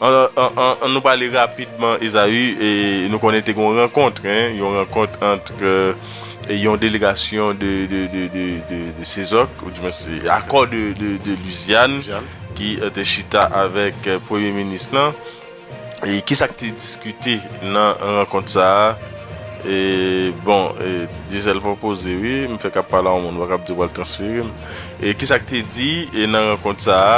An nou pale rapidman Esaü, nou konnen te gen yon rankont, yon rankont antre yon delegasyon de Sezok, ou di mwen se akò de Luzyan ki te chita avèk premye minis lan, e kisa ki te diskite nan rankont sa a, e bon, Diesel fòk poze wi, m fèk ap pale a yon moun, m pa kab di w pral transfere m, e kisa ki te di nan rankont sa a?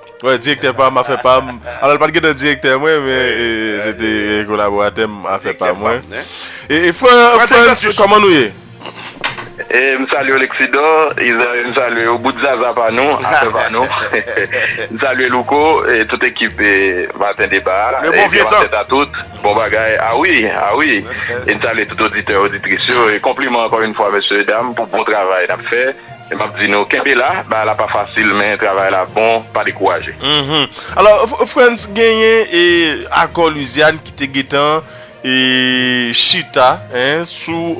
Wè direktè pam afè pam alò l pat gentan direktè mwen men se te kolaboratè m afè pa mwen e frantz kòman nou ye. M salye w Lexidò Israel m salye w bout zaza pa nou afè pa nou m salye Louko e tout ekip maten deba a e bon maten a tout bon bagay a wi a wi e m salye tout oditè oditris yo e konpliman ankò yn fwa mesye e dam pou bon travay n ap fè. E map di nou kenbe la, bagay la pa fasil men travay la bon pa dekouraje. Mph alò Frantz genyen e akò Louisiane ki te gentan e chita en sou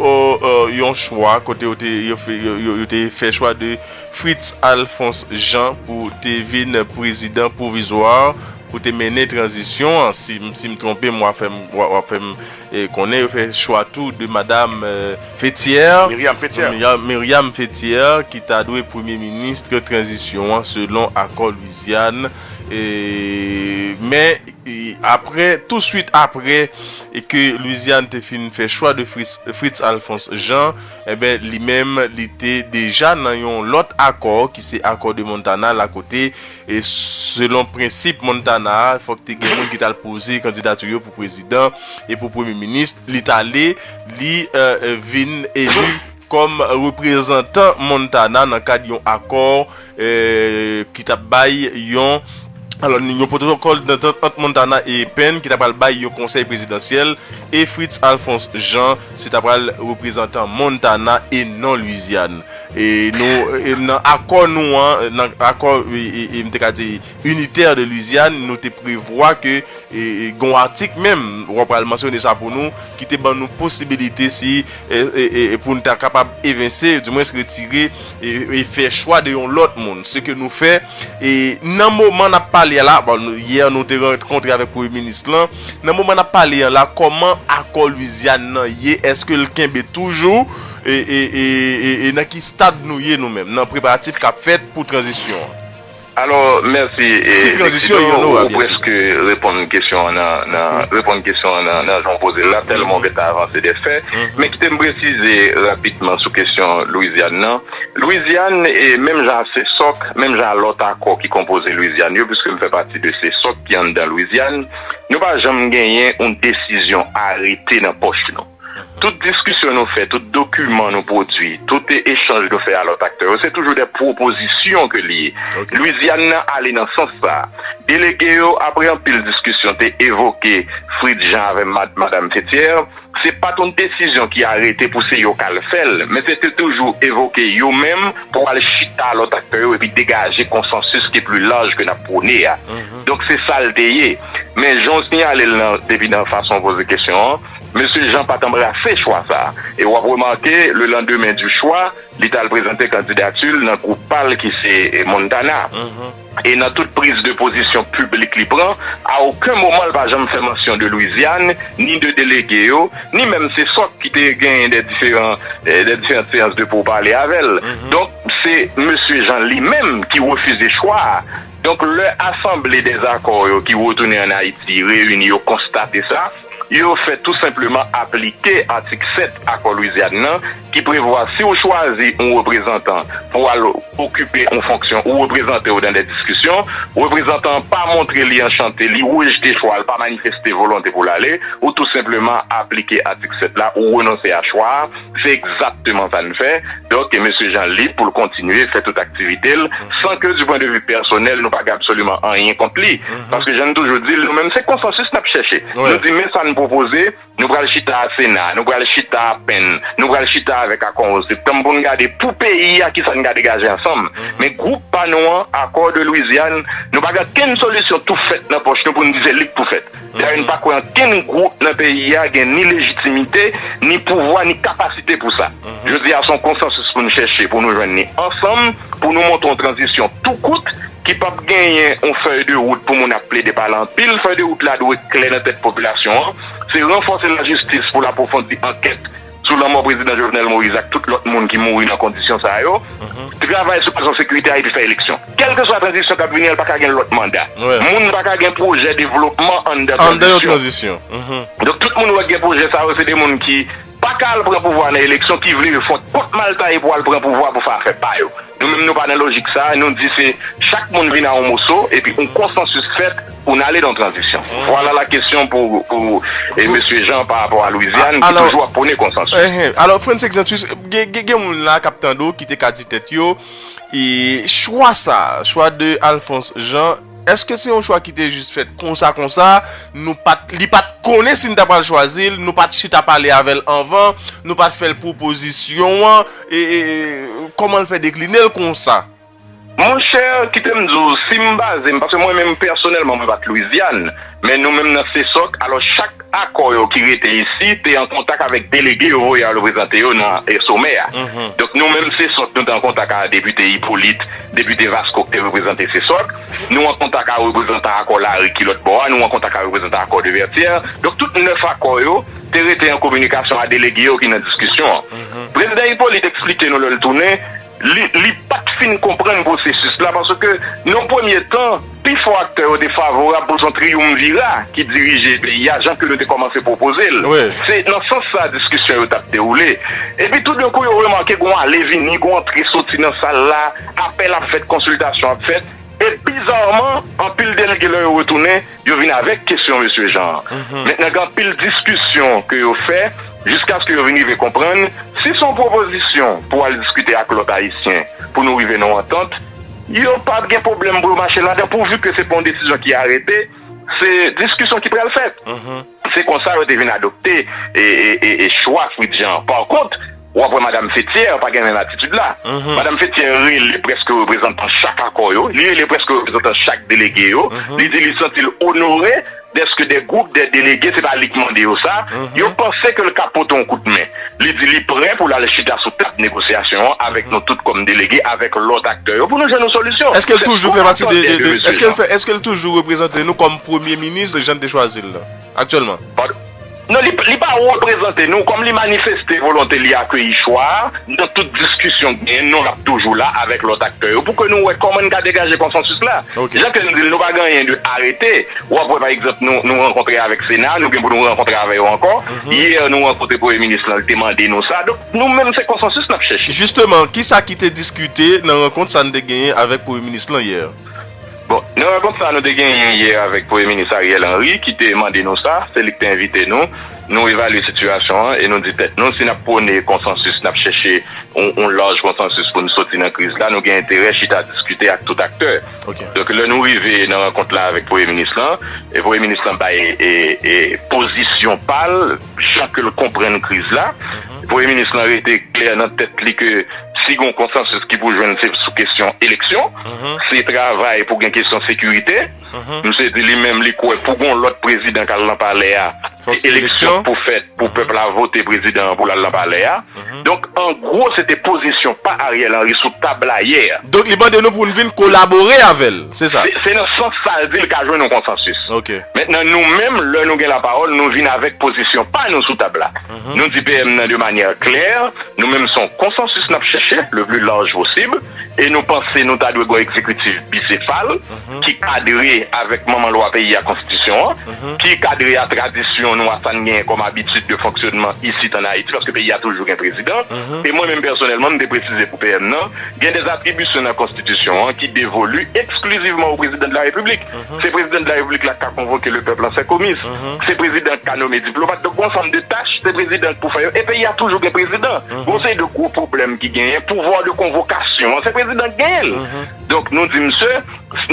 yon chwa kote yo te yo te fè chwa de Fritz Alphonse Jean pou te vin prezidan pwovizwa pou te mennen tranzisyon an si m si m twonpe m wap fè m wap fè m Konnen yo fè chwa tou de Madam Fethière Myriam Fethière ki ta dwe premye ministre tranzisyon an selon akò Lwizyàn men aprè tou swit aprè ke Lwizyàn te fin fè chwa de Fritz Alphonse Jean enben li menm li te deja nan yon lòt akò ki se akò de Montana la kote E selon prensip Montana a, fòk te gen moun ki tal poze kandidatu yo pou prezidan e pou premye minist, li tale, li vin elu kòm reprezantan Montana nan kad yon akò ki tap bay yon, alò yon pwotokòl dantant ant Montana e Penn ki ta pral bay yon konsèy prezidansyèl e Fritz Alphonse Jean se ta pral reprezantan Montana e non Lwizyàn. E nou, e nan akò nou an, nan akò, e, e, e m te ka di, unitaire de Louisiane, nou te prevwa ke, e, e gen yon atik menm, w ap pral mansyone sa pou nou, ki te ban nou posibilite si, e, e, e, e pou n ta kapab evense, di mwens retire, e, e fè chwa de yon lòt moun. Se ke nou fè, e nan moman n ap pale a la, bon, yè nou te rankontre avèk premye minis lan, nan moman n ap pale an la, kòman akò Louisiane nan ye, èske l kenbe toujou? E nan ki stad nou ye nou menm nan preparatif kap fèt pou tranzisyon an? Alò, mèsi. Dixidor, ou prèske reponn kesyon an nan reponn kesyon an nan jan w poze l la, tèlman w gen tan avanse dè fè. Men kite m presize rapidman sou kesyon Lwizyàn nan. Lwizyàn, menm jan a Sesòk, menm jan a lòt akò ki konpoze Lwizyàn yo, piske m fè pati de Sesòk ki anndan Lwizyàn, nou pa janm genyen yon desizyon arete nan pòch nou. Tout diskisyon nou fè, tout dokiman nou pwodui, tout echanj nou fè a lòt aktè yo, se toujou de pwopozisyon ke li ye. Lwizyàn nan ale nan sans sa a. Delege yo, apre anpil diskisyon, te evoke Fritz Jean avè Madam Fethière. Se pa t yon desizyon ki arete pou se yo k al fè l, men se te toujou evoke yo menm pou al chita a lòt aktè yo epi degaje konsansis ki pli laj ke n ap pwone a. Donk se sa l te ye. Men jan w sinyale l nan depi nan fason w poze kesyon an, Mesye Jean pa t anbrase chwa sa a e w ap remake le landemen di chwa li t al prezante kandidati l nan gwoup pa l ki se Montana e nan tout priz de pozisyon piblik li pran a oken moman l pa janm fè mansyon de Lwizyàn ni de delege yo ni menm se sòt ki te genyen dè diferan dè diferant seyans de pourpale avè l donk se mesye Jean li menm ki refize chwa a donk lè asanble dèzakò yo ki retounen an Ayiti reyini yo konstate sa. Yo fèt tou senpleman aplike atik 7 Akò Lwizyàn nan ki prevwa si ou chwazi yon reprezantan pou al okipe yon fonksyon ou reprezante w nan dè diskisyon, reprezantan an pa montre li anchante, li rejte chwa a, li pa manifeste volonte pou l ale, ou tou senpleman aplike atik 7 la, ou renonse a chwa a. Se egzakteman sa n fè. Donk, Mesye Jean lib pou l kontinye fè tout aktivite l san ke di pwen de vi pèsonèl nou pa gen absoliman anyen kont li. Paske jan n toujou di l, nou menm se konsansis n ap chèche. Nou di men sa n pwopoze, nou pral chita a Sena, nou pral chita a pen, nou pral chita avèk Akò 11 septanm pou n gade pou peyi a ki sa n ka degaje ansanm. Men gwoup pa nou an, Accord de Louisiane, nou pa gen okenn solisyon tou fèt nan pòch nou pou n di se li k pou fèt. Dayè n pa kwè ankenn gwoup nan peyi a gen ni lejitimite, ni pouvwa, ni kapasite pou sa. Jodi a se yon konsansis pou n chèche pou nou jwenn ni ansanm pou nou monte yon tranzisyon tou kout ki p ap genyen yon fèy de wout pou moun ap plede pale anpil. Fèy de wout la dwe klè nan tèt popilasyon an. Se ranfòse lajistis pou l apwofondi ankèt sou lanmò Prezidan Jovenel Moïse ak tout lòt moun ki mouri nan kondisyon sa yo, travay sou kesyon sekirite a epi fè eleksyon. Kèlkeswa tranzisyon k ap vini an, l pa ka gen lòt manda. Moun pa ka gen pwojè devlopman anndan tranzisyon. Donk tout moun ou wè k gen pwojè sa yo se de moun ki pa ka al pran pouvwa nan eleksyon, ki vle yo fon kont mal taye pou al pran pouvwa pou fè afè pa yo. Nou menm nou pa nan lojik sa, nou di se chak moun vin a yon moso epi yon konsansis fèt pou n ale nan tranzisyon. Vwala lakesyon pou Mesye Jean pa rapò a Lwizyàn ki toujou ap pwone konsansis. Alò, Frantz Exantus, gen moun la k ap tande w ki te ka di tèt yo, chwa sa, chwa de Alphonse Jean, Eske se yon chwa ki te jis fèt konsa konsa, nou pat, li pat konnen si n ta pral chwazi l, nou pat chita pale avè l anvan, nou pat fè l pwopozisyon an, e, e, kòman l fè dekline l konsa? Monchè, kite m di w, si m baze m, paske mwen menm pèsonèlman mwen pa t Lwizyàn. Men nou menm nan CSOC, alò chak akò yo ki rete isi te an kontak avèk delege yo voye al reprezante yo nan somè a. Donk nou menm CSOC nou te an kontak a depite Hyppolite, depite Vasco ki te reprezante CSOC, nou an kontak a reprezantan akò Lari ki lòt bò a, nou an kontak a reprezantan akò de Vètyè. Donk tout 9 akò yo te rete an kominikasyon a delege yo ki nan diskisyon an. Prezidan Hyppolite eksplike nou lè l tounen, Li pa t fin konprann pwosesis la paske nan yon premye tan, pi fò aktè yo te favorab pou son triyumvira ki dirije peyi a jan ke nou te kòmanse pwopoze l. Se nan sans sa a diskisyon yo t ap dewoule. Epi toudenkou yo remake gon ale vini, gon antre soti nan sal la, apèl ap fèt, konsiltasyon ap fèt. E bizarman, anpil delge lè yo retounen, yo vin avèk kesyon Mesye Jan an. Men nan gen anpil diskisyon ke yo fè jiskaske yo vin rive konprann si se yon pwopozisyon pou al diskite ak lòt Ayisyen pou nou rive nan yon antant, yo pa ap gen pwoblèm pou yo mache ladan pouvi ke se pa yon desizyon ki arete, se diskisyon ki pral fèt. Se konsa yo te vin adopte chwa Fritjean an. Pakont, w ap wè Madam Fethière pa gen menm atitid la. Madam Fethière rele prèske reprezantan chak akò yo, li rele prèske reprezantan chak delege yo, li di li santi l onore dèske de gwoup de delege, se pa li ki mande yo sa, yo panse ke l ka pote yon kout men. li di li prè pou l al chita sou tab negosyasyon an avèk nou tout kòm delege avèk lòt aktè yo pou nou jwenn yon solisyon. Èske l toujou fè pati de, de, de, èske l fè, èske l toujou reprezante nou kòm premye minis jan n te chwazi l la, aktyèlman? Padon? Non, li, li pa reprezante nou, kòm li manifeste volonte li akeyi chwa a, nan tout diskisyon k genyen, non l ap toujou la avèk lòt aktè yo pou ke nou wè kòman n ka degaje konsansis la. Ok. Jan Ken di l, nou pa gen anyen de arete, w ap wè pa egzanp nou, nou rankontre avèk Sena, nou gen pou nou rankontre avè yo ankò, Hier nou rankontre premye minis lan li te mande nou sa donk nou menm se konsansis nap chèche. Justement kisa ki te diskite nan rankont sa nou te genyen avèk premye minis lan hier? Bon nan rankont sa nou te genyen hier avèk premye minis Ariel Henry ki te mande nou sa, se li ki te envite nou, nou evalye sitiyasyon an e nou di tèt nou si nap pwone konsansis nap chèche yon laj konsansis pou nou soti nan kriz la nou gen enterè chita diskite ak tout aktè. Donk lè nou rive nan rankont la avèk premye minis lan, premye minis lan bay pozisyon pa l, jan ke l konprann kriz la. Premye minis lan rete klè nan tèt li ke si gen yon konsansis ki pou jwenn se sou kesyon eleksyon, se travay pou gen kesyon sekirite. Misye di li menm li kwè pou gen yon lòt prezidan k al nan palè a, se eleksyon k pou fèt pou pèp la vote prezidan an pou l al nan palè a. Donk an gwo se te pozisyon pa Ariel Henry sou tab la yè. Donk li mande nou pou nou vin kolabore avè l, se sa? Se nan sans sa l di l ka jwenn yon konsansis. Mentnan nou menm lè nou gen lapawòl nou vin avèk pozisyon pa nou sou tab la. Nou di PM nan de manyè klè, nou menm se yon konsansis n ap chèche le pli larj posib e nou panse nou ta dwe gen yon egzekitif bisefal, ki kadre avèk manman lwa peyi a, Konstitisyon an, ki kadre a tradisyon nou a, sa n genyen kòm abitid de fonksyònman isit ann Ayiti, paske peyi a toujou gen prezidan. E mwen menm pèsonèlman, m te presize pou PM nan, gen dè atribisyon nan Konstitisyon an ki devolu eksklizivman o Prezidan de la Repiblik. Se Prezidan de la Repiblik la k ka konvoke le pèp lan fè komis. Se Prezidan k ka nome diplomat. Donk gon ansanm de tach, se Prezidan k pou fè yo. E peyi a toujou gen prezidan. Gon seri de gwo pwoblèm ki genyen, pouvwa de konvokasyon an, se Prezidan k genyen l. Donk, nou di misye,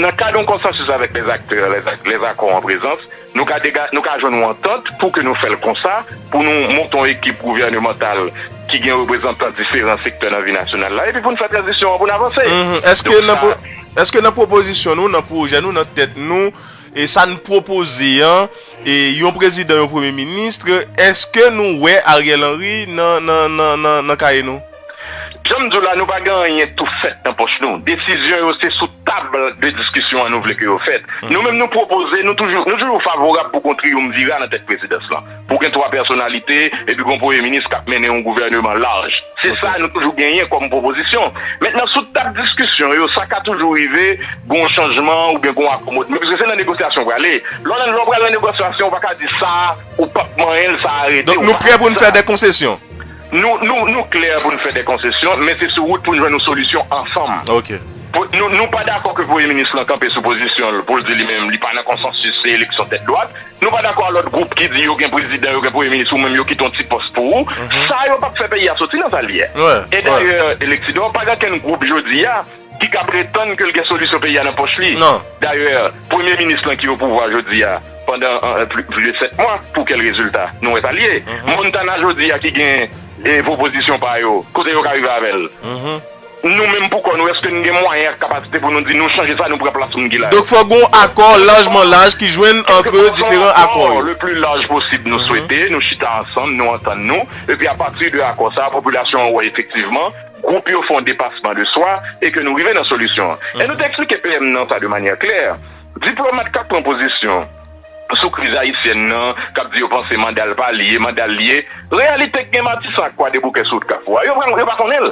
nan kad yon konsansis avèk lè aktè, lè akò an prezans, nou ka dega, nou ka jwenn yon antant pou ke nou fè l konsa, pou nou monte yon ekip gouvènemantal ki gen reprezantan diferan sektè nan vi nasyonal la, epi pou nou fè tranzisyon an, pou nou avanse. Èske nan, èske nan pwopozisyon nou, nan pwojè nou, nan tèt nou, e sa n pwopoze an, e yon prezidan, yon premye minis, èske nou wè Ariel Henry nan, nan, nan, nan kaye nou? Jan m di w la, nou pa gen anyen tou fèt nan pòch nou. Desizyon yo se sou tab de diskisyon an nou vle ke yo fèt. Nou menm nou pwopoze, nou toujou favorab pou kon triyumvira nan tèt prezidans lan. Pou gen 3 pèsonalite, epi gon premye minis k ap mennen yon gouvèneman laj. Se sa nou toujou genyen kòm pwopozisyon. Mentnan sou tab diskisyon yo, sa ka toujou rive gon chanjman oubyen gon akomodman. Paske se nan negosyasyon w prale. Lè w pral nan negosyasyon, ou pa ka di sa ou p ap manyen l, sa a rete, ou pa ka di sa. Donk nou prè pou n fè de konsesyon? Nou klè pou n fè de konsesyon, men se sou wout pou n jwenn yon solisyon ansanm. Nou pa dakò ke Premye Minis lan kanpe sou pozisyon l pou l di li menm li pa nan konsansis se eleksyon tèt dwat. Nou pa dakò a lòt gwoup ki di yo gen prezidan, yo gen Premye Minis ou menm yo kite yon ti pòs pou ou. Sa yo p ap fè peyi a soti nan sa l ye. E dayè, Electidor, pa gen okenn gwoup jodi a, ki ka pretann ke l gen solisyon peyi a nan pòch li. Dayè, premye minis lan ki opouvwa jodi a pandan plis de 7 mwa, pou kèl rezilta? Nou wè sa l ye. Montana jodi a ki gen pwopozisyon pa yo, kote yo ka rive avè l? Nou menm pou kò nou, èske n gen mwayen ak kapasite pou nou di nou chanje sa, nou pran plas moun ki la yo? Donk fòk gen yon akò lajman laj ki jwenn antre diferan akò yo. Le pli laj posib nou swete, nou chita ansanm, nou antann nou, epi apati de akò sa a, popilasyon an wè efektivman gwoup yo fè yon depasman de swa e ke nou rive nan solisyon an. E nou te eksplike PM nan sa de manyè klè. Diplomat k ap pran pozisyon sou kriz ayisyèn nan, k ap di yo panse manda l pa li ye, manda l li ye, reyalite k gen Matisan ak Kwadeboukè sou wout Kafou a, yo pa yo pa konnen l.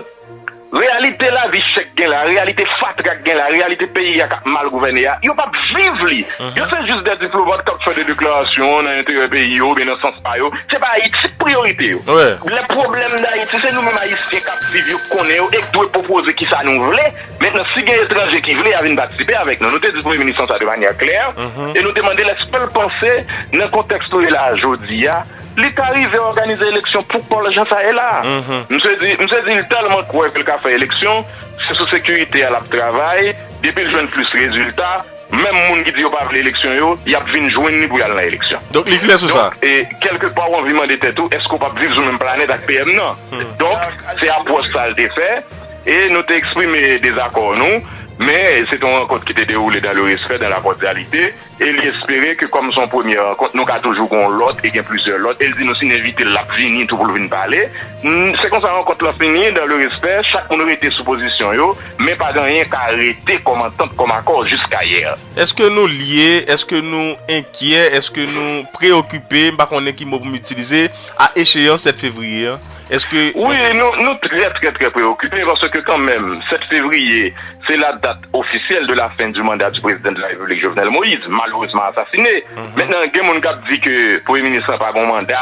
Reyalite lavi chè k gen la, reyalite fatra k gen la, reyalite peyi a k ap mal gouvène a, yo p ap viv li. Yo se jis de diplomat k ap fè de deklarasyon nan enterè peyi yo oubyen nan sans pa yo. Se pa Ayiti ki priyorite yo. Lè pwoblèm Dayiti se nou menm Ayisyen k ap viv yo k konnen yo e k dwe pwopoze ki sa nou vle. Mentnan si gen etranje ki vle y a vin patisipe avèk nou. Nou te di Premye Minis lan sa de manyè klè e nou te mande l èske l panse nan kontèks nou ye la a jodi a li ta rive òganize eleksyon pou kò l jan sa ye la a. Msye di msye di l tèlman kwè ke l ka fè eleksyon se sou sekirite a l ap travay depi l jwenn plis rezilta. Menm moun ki di yo pa vle eleksyon yo, y ap vin jwenn li pou y al nan eleksyon. Donk li klè sou sa. Donk, kèlke pa ou anvi mande tèt ou, èske ou p ap viv sou menm planèt ak PM nan? Donk, se apwòch sa a l te fè e nou te eksprime dezakò nou. Men, se te yon rankont ki te dewoule dan le respè, dan la kòdyalite e li espere ke kòm se yon premye rankont, nou ka toujou gen yon lòt e gen plizyè lòt. E l di nou si n envite l, l ap vini tou pou l vin pale. Se konsa rankont lan fini dan le respè, chak moun rete sou pozisyon yo. Men pa gen anyen ka rete kòm antant, kòm akò jiskayè. Èske nou lye, èske nou enkyè, èske nou preyokipe, m pa konnen ki mo pou m itilize, a echeyans 7 fevriye an? Èske. Wi, nou trè, trè, trè preyokipe paske kanmenm 7 fevriye se la dat ofisyèl de la fen di manda di Prezidan de la Repiblik Jovenel Moïse, malerezman asasine. Mentnan gen moun k ap di ke Premye Minis lan pa gen yon manda,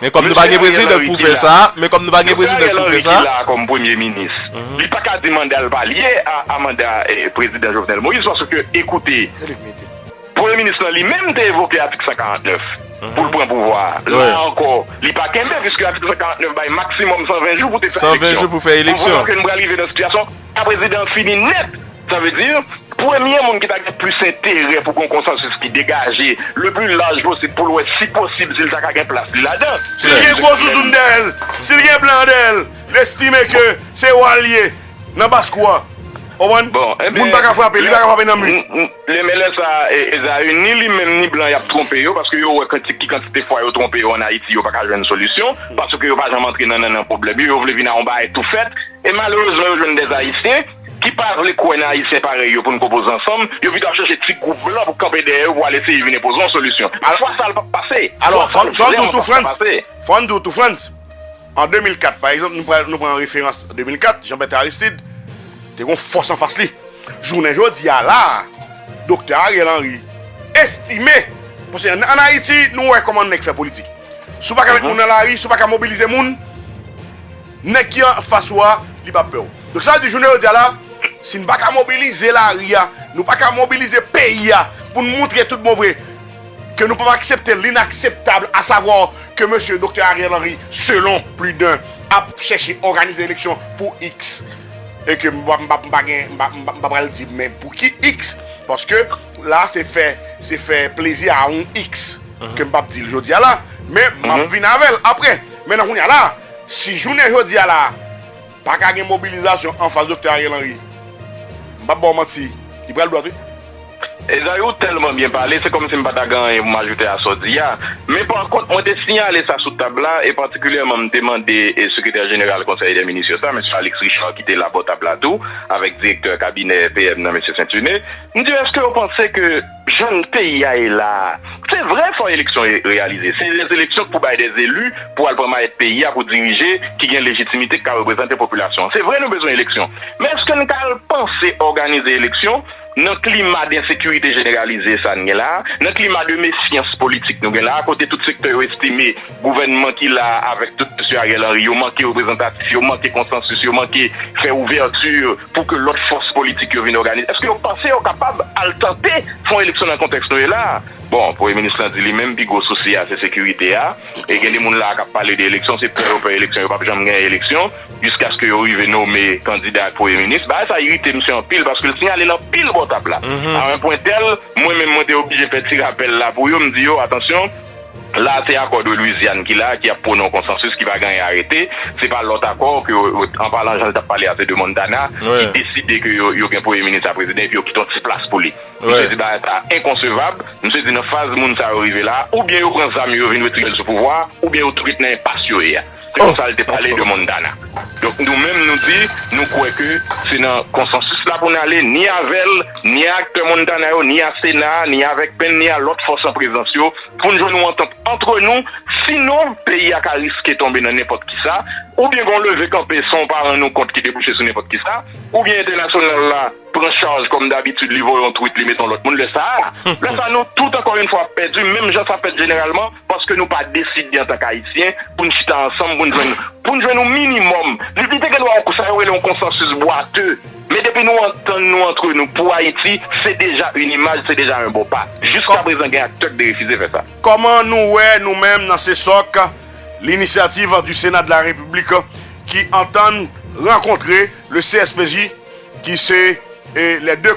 Men kòm nou pa gen prezidan pou fè sa, men kòm nou pa gen prezidan pou fè sa. Yo gen Ariel Henry ki la a kòm premye minis. Li pa ka di manda l pa lye a manda prezidan Jovenel Moïse paske ekoute, premye minis lan li menm te evoke atik 149 pou l pran pouvwa a. La a ankò, li pa kenbe piske atik 149 bay maksimòm 120 jou pou te fè eleksyon. 120 jou pou fè eleksyon. Konprann ke nou pral rive nan sitiyasyon. Ka prezidan an fini nèt! Sa vle di, premye moun ki ta gen plis enterè pou gen yon konsansis ki degaje le pli laj posib pou l wè si posib si l ta ka gen plas li ladan. Si l gen gwo zouzoun dèyè l, si l gen blan dèyè l, l estime ke se wa l ye nan baskou a. Ou konprann? Moun pa ka frape l, li pa ka frape nan mi. Lè men lè sa Ezayu ni li menm ni blan yap twonpe yo paske yo wè kantik ki kantite fwa yo twonpe yo an Ayiti yo paka jwenn solisyon paske yo pa janm antre nan nannan pwoblèm yo yo vle vin a yon bagay tou fèt e malerezman yo jwenn dè Ayisyen ki pa vle kwè nan Ayisyen parèy yo pou n konpoze ansanm yo pito ap chèche ti gwoup blan pou kanpe dèyè yo pou al eseye vin enpoze yon solisyon alafwa sa l pap pase alafwa sa l vrèman pap ka pase. Fò n di w tou Frantz. An 2004, pa egzanp, nou pran an referans 2004, Jean-Bertrand Aristide te gon fòs anfas li. Jounen jodi a la a, Doktè Ariel Henry estime, paske an Ayiti nou wè kòman nèg fè politik. Si w pa ka met moun nan lari, si w pa ka mobilize moun, nèg ki anfas ou a, li p ap pè w. Donk sa vle di jounen jodi a la a, si n pa ka mobilize lari a, nou pa ka mobilize peyi a pou n montre tout bon vre, ke nou pap aksepte l'inakseptable a savoir ke mesye Doktè Ariel Henry selon plus d'un ap chèche òganize eleksyon pou X e ke m pa m pa gen m pa m pa pral di men pou ki X paske la se fè se fè plezi a yon X ke m pap di l jodi a la men m ap vin avè l aprè men nan kounye a la si jounen jodi a la. Pa ka gen mobilizasyon anfas Doktè Ariel Henry. M pap ba w manti, li pral dwat wi. Esaü ou tèlman byen pale, se kòmsi m pa ta gen anyen pou m ajoute a sa w di a. Men pa kont, mwen te siyale sa sou tab la, e patikilyèman m te mande Sekretè Jeneral Konsèy dè Minis yo sa, Mesye Alix Richard ki te la bò tab la tou, avèk Direktè Kabinè PM nan Mesye Saintuné. M di yo, èske yo panse ke. Jan peyi a ye la a. Se vre fò eleksyon reyalize. Se lè eleksyon k pou bay de zelu pou al pran mayèt peyi a pou dirije ki gen lejitimite k ka reprezante popilasyon an. Se vre nou bezwen eleksyon. Men eske n ka al panse òganize eleksyon nan klima densekirite jeneralize sa n gen la a, nan klima de mefyans politik nou gen la a kote tout sektè yo estime Gouvènman ki la a avèk tout Mesye Ariel Henry yo manke reprezantatif, yo manke konsansis, yo manke fè ouvèti pou ke lòt fòs politik yo vin òganize. Èske yo panse yo kapab al tante fè yon eleksyon nan kontèks nou ye la a? Bon, Premye Minis lan di li menm pi gwo sousi a se sekirite a. E gen de moun la a k ap pale de eleksyon, se pè yo pè eleksyon, yo p ap janm genyen eleksyon jiskaske yo rive nome kandida ak Premye Minis. Bagay sa irite misye anpil paske l siyale nan pil bò tab la a un point tel, mwen menm mwen te oblije fè ti rapèl la pou yo, m di yo, atansyon, La a se akò de Louisiane ki la a ki ap pwone yon konsansis ki va gaye arete. Se pa lòt akò ke yo, an palan jan l t ap pale a se de Montana ki deside ke yo gen premye minis a prezidan epi yo kite yon ti plas pou li. Misye di bagay sa a enkonsevab. Misye di nan faz moun sa yo rive la a, oubyen yo pran zam yo yo vin retire l sou pouvwa a, oubyen yo tou ret nan enpas yo ye a. Se konsa l te pale de Montana. Donk nou menm nou di nou kwè ke se nan konsansis la pou n ale ni avè l, ni a aktè Montana yo, ni a Sena a, ni avèk Pen, ni a lòt fòs an prezans yo pou n jwenn yon antant antre nou. Sinon peyi a ka riske tonbe nan nenpòt ki sa. Oubyen gen yon leve kanpe san w pa rann ou kont ki debouche sou nenpòt ki sa. Oubyen entènasyonal la pran chaj kòm dabitid li voye yon twit li met yon lòt moun. Lè sa a, lè sa a nou tout ankò yon fwa ap pèdi menm jan sa fèt jeneralman. Paske nou pa deside antan k Ayisyen pou n chita ansanm pou n jwenn pou n jwenn yon minimòm. Li te gen dwa yon sa yo rele yon konsansis bwate. Men depi nou antann nou antre nou pou Ayiti, se deja yn imaj, se deja yon bon pa. Jiskaprezan gen aktè k derefize fè sa. Kòman nou wè nou menm nan CSOC l'initiative du Sénat de la République ki antann rankontre le CSPJ ki se les deux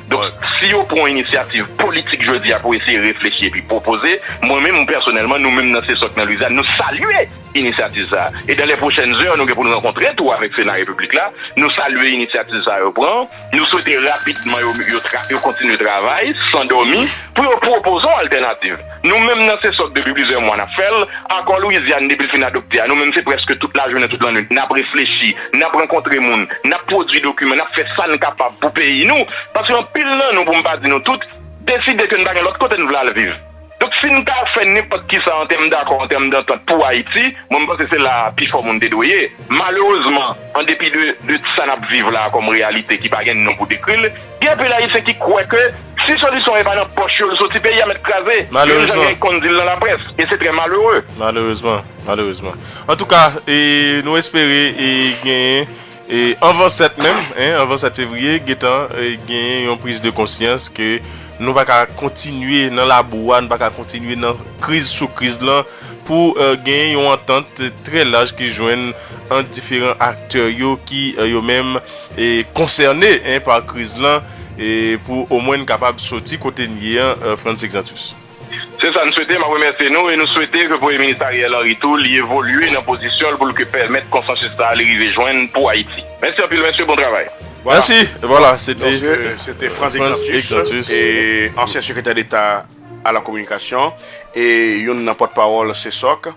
Donk, si yo pran inisyativ politik jodi a pou eseye reflechi epi pwopoze, mwen menm pèsonèlman, nou menm nan CSOC nan Lwizyann, nou salye inisyativ sa a. E dan lè pwochèn zè, nou gen pou n rankontre tou avèk Sena Repiblik la. Nou salye inisyativ sa a yo pran. Nou swete rapidman yo kontinye travay san dòmi pou yo pwopoze yon altènativ. Nou menm nan se sot depi plizyè mwa nap fèl, akò Louisiane depil fin adopte a nou menm se prèske tout lajounen tout lannwit nap reflechi, nap rankontre moun, nap pwodwi dokiman, nap fè sa n kapab pou peyi nou, paske anpil nan nou pou m pa di nou tout, deside ke n pa gen lòt kote n vle al viv. Donk si n ka fè nenpòt kisa an tèm dakò, an tèm dantant pou Ayiti, mwen m panse se la a pifò moun te dwe ye. Malerezman, andepi de sa nap viv la a kòm reyalite ki pa gen non pou dekri l, Gen anpil Ayisyen ki kwè ke si solisyon e pa nan pòch yo li soti peyi a mèt kraze, menm jan gen ki konn di l nan laprès, e se trè malere. Malerezman, malerezman. Antouka, e nou espere e genyen e anvan 7 menm, hein, anvan 7 fevriye, gentan e genyen yon priz de konsyans ke nou pa ka kontinye nan labou a, nou pa ka kontinye nan kriz sou kriz lan. pou genyen yon antant trè laj ki jwenn ant diferan aktè yo ki yo menm konsène pa kriz lan pou omwen n kapab soti kote n ye an Frantz Exantus. Se sa n swete, m ap remèsye nou e nou swete ke Premye Minis Ariel Henry tou li evolye nan pozisyon l pou l ke pèmèt konsansis sa a li rive jwenn pou Ayiti. Mèsi anpil mesye bon travay. Mèsi e vwala se te Se te Frantz Exantus e ansyen sekretè deta a la kominikasyon e youn nan pòt pawòl Sesok.